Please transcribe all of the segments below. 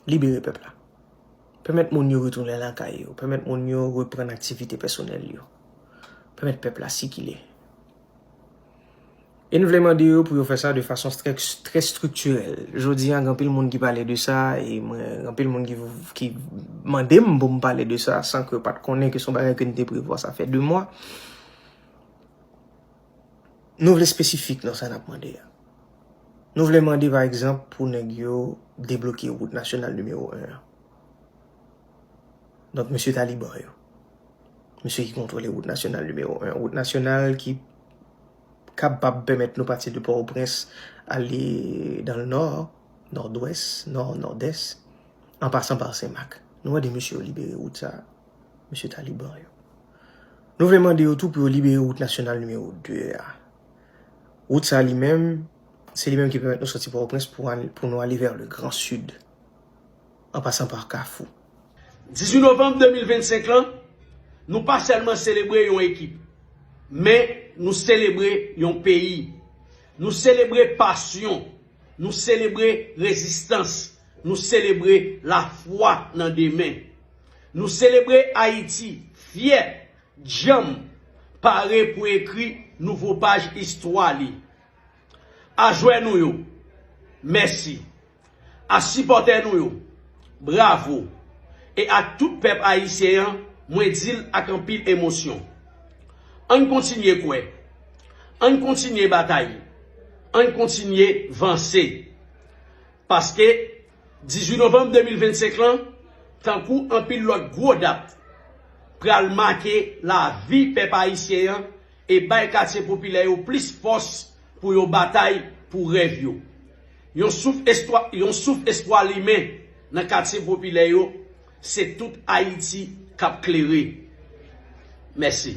Libere pèp la. Pèmèt moun yo retounen lakay yo. Pèmèt moun yo reprann aktivite pèsonèl yo. Pèmèt pèp la sikile. E n vle mande yo pou yo fè sa de fason trè estriktirèl. Jodi an, gen anpil moun ki pale de sa e mwen gen anpil moun ki mande m pou m pale de sa san ke yo pa t konnen ke se yon bagay ke n te prevwa sa fè 2 mwa. Nou vle espesifik nan sa n ap mande a. Nou vle mande pa egzanp pou nèg yo debloke wout nasyonal nimewo 1 an. Donk mesye taliban yo. Mesye ki kontwole wout nasyonal nimewo 1 an. Wout nasyonal ki kapab pèmèt nou pati de Pòtoprens ale dan le nò, nòdwès, nò, nòdès, an pasan pa Senmak. Nou mande mesye yo libere wout sa a. Mesye taliban yo. Nou vle mande yo tou pou yo libere wout nasyonal nimewo 2 a. Wout sa li menm, se li menm ki pèmèt nou soti Pòtoprens pou nou ale vè le gran Sid, an pasan pa Kafou. 18 novanm 2025 lan, nou pa sèlman selebre yon ekip, men nou selebre yon peyi. Nou selebre pasyon. Nou selebre rezistans, nou selebre lafwa nan demen. Nou selebre Ayiti, fyè, djanm, pare pou ekri nouvo paj istwa li. A jwè nou yo, mèsi. A sipòtè nou yo, bravo. E ak tout pèp ayisyen an, mwen di l ak anpil emosyon, Ann kontinye kwè. Ann kontinye batay, ann kontinye vanse. Paske 18 novanm 2025 lan, tankou anpil lòt gwo dat, pral make lavi pèp ayisyen an e bay katye popilè yo plis fòs pou yo batay pou rèv yo. Yon souf espwa yon souf espwa limen nan katye popilè yo, se tout Ayiti k ap klere. Mèsi.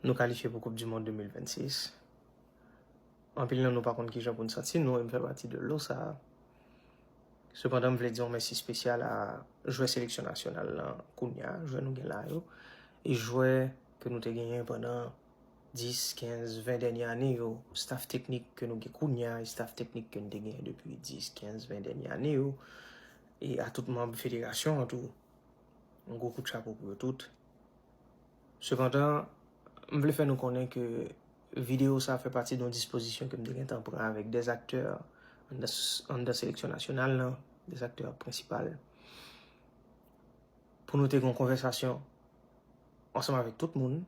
Nou kalifye pou koup di mond 2026. Anpil nan nou pa konn kijan pou n santi nou e m fè pati de lo sa. Sepandan m vle di yon mèsi spesyal a jwè seleksyon nasyonal lan kounye a, jwè nou gen la yo, e jwè ke nou te genyen pandan 10, 15, 20 dènye ane yo, staf teknik ke nou gen kounye a, e staf teknik ke n te genyen depi 10, 15, 20 dènye ane yo, e a tout manb federasyon an tou. Yon gwo kout chapo pou yo tout. Sepandan, m vle fè nou konnen ke videyo sa fè pati yon dispozisyon ke m te gentan pran avèk 2 aktè anndan seleksyon nasyonal lan, 2 aktè prensipal, pou nou te gen yon konvèsasyon ansanm avèk tout moun,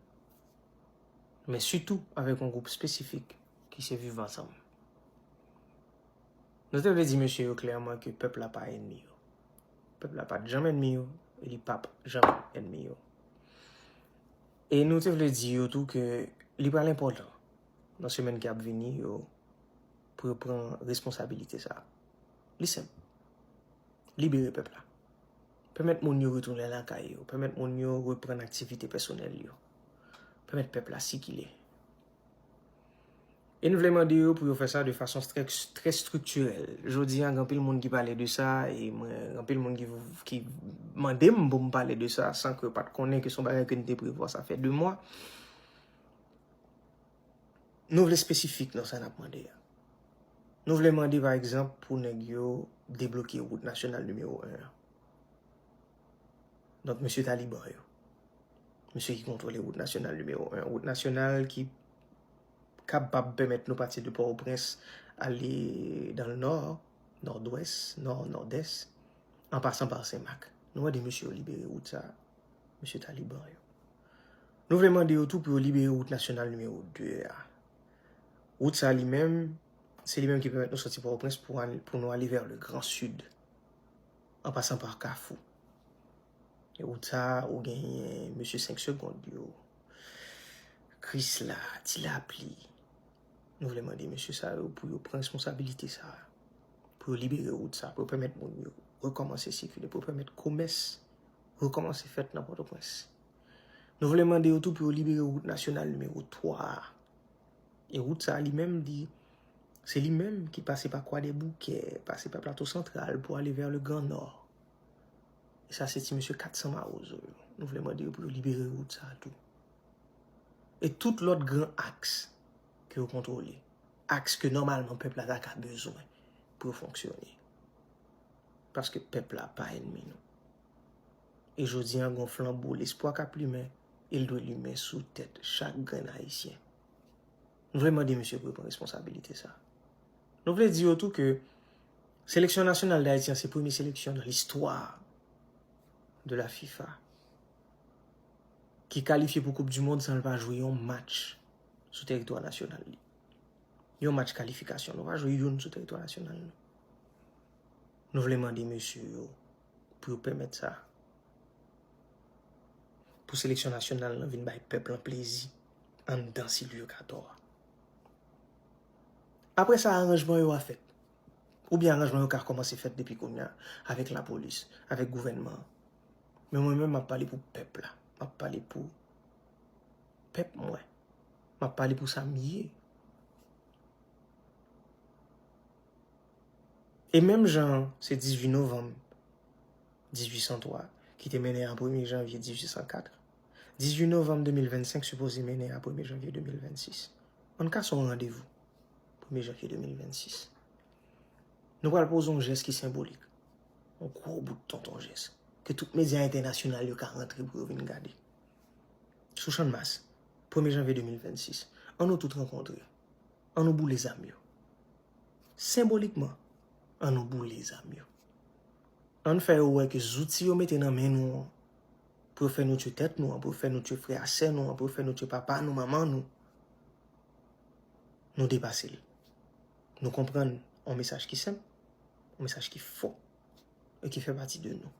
men sitou avèk yon gwoup espesifik ki se Viv Ansanm. Nou te vle di mesye yo klèman ke pèp la pa enmi yo. Pèp la pat janm enmi yo, e li pap janm enmi yo. E nou te vle di yo tou ke li pral enpòtan nan semèn ki ap vini yo pou yo pran responsabilite sa. Li senp. Libere pèp la. Pèmèt moun yo retounen lakay yo. Pèmèt moun yo reprann aktivite pèsonèl yo. Pèmèt pèp la sikile. E n vle mande yo pou yo fè sa de fason trè striktirèl. Jodi a gen anpil moun ki pale de sa e mwen gen anpil moun ki mande m pou m pale de sa san ke yo pa t konnen ke se yon bagay ke n te prevwa sa fè 2 mwa. Nou vle espesifik nan sa n ap mande a. Nou vle mande pa egzanp pou nèg yo debloke wout nasyonal nimewo 1 an. Donk mesye taliban yo, mesye ki kontwole wout nasyonal nimewo 1, wout nasyonal ki kapab pèmèt nou pati de Port-au-Prince ale dan le nò, nòdwès, nò, nòdès, an pasan par Senmak. Nou mande mesye yo libere wout sa, mesye taliban yo. Nou vle mande yo tou pou yo libere wout nasyonal nimewo 2 a. Wout sa li menm, se li menm ki pèmèt nou soti Port-au-Prince pou nou ale vè le gran sid. An pasan pa kafou. E wout sa a ou genyen mesye 5 segond yo, krisla, ti lapli. Nou vle mande mesye sa yo pou yo pran responsabilite sa a. Pou yo libere wout sa a, pou yo pèmèt moun yo rekòmanse sikile, pou yo pèmèt komès rekòmanse fèt nan Pòtoprens. Nou vle mande yo tou pou yo libere wout nasyonal nimewo 3 a. E wout sa li menm di, se li menm ki pase pa Kwadèboukè, pase pa Plato Santral pou ale vè le Gran Nò. E sa se ti mesye 400 mawozo yo. Nou vle mande yo pou yo libere wout sa tou. E tout lòt gran aks ke yo kontwole. Aks ke nòmalman pèp la ta ka bezwen pou yo fonksyone. Paske pèp la pa enmi nou. E jodi an gen yon flanbo lespwa k ap limen e l dwe limen sou tèt chak grenn Ayisyen. Nou vle mande misye pou l pran responsabilite sa. Nou vle di yo tou ke seleksyon nasyonal Dayiti an se premye seleksyon nan listwa de la fifa ki kalifye pou koup di mond san l pa jwe yon match sou teritwa nasyonal li. Yon match kalifikasyon. Nou pa jwe youn sou teritwa nasyonal nou. Nou vle mande mesye yo pou yo pèmèt sa. Pou seleksyon nasyonal lan vin bay pèp lan plezi anndan Silvyo Katò a. Apre sa aranjman yo a fèt. Oubyen aranjman yo ka kòmanse fèt depi kounya avèk lapolis, avèk gouvènman an. Men mwen menm m ap pale pou pèp la. M ap pale pou pèp mwen. M ap pale pou sa m ye. E menm jan an, se 18 novanm 1803 ki te mennen a premye janvye 1804, 18 novanm 2025 sipoze mennen a premye janvye 2026. An n ka se yon randevou, premye janvye 2026. Nou pral poze yon jès ki senbolik, yon gwo bout tonton jès, ke tout medya entènasyonal yo ka rantre pou yo vin gade. Sou Channmas, premye janvye 2026, an nou tout rankontre. an nou boule zam yo. Senbolikman, an nou boule zam yo. An n fè yo wè ke zouti yo mete nan men nou an, pou yo fè nou tye tèt nou an, pou yo fè nou tye frè a sè nou an, pou yo fè nou tye papa nou, manman nou, nou depase l. Nou konprann yon mesaj ki senp, yon mesaj ki fò, e ki fè pati de nou.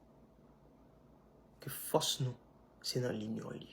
Ke fòs nou, se nan linyon li.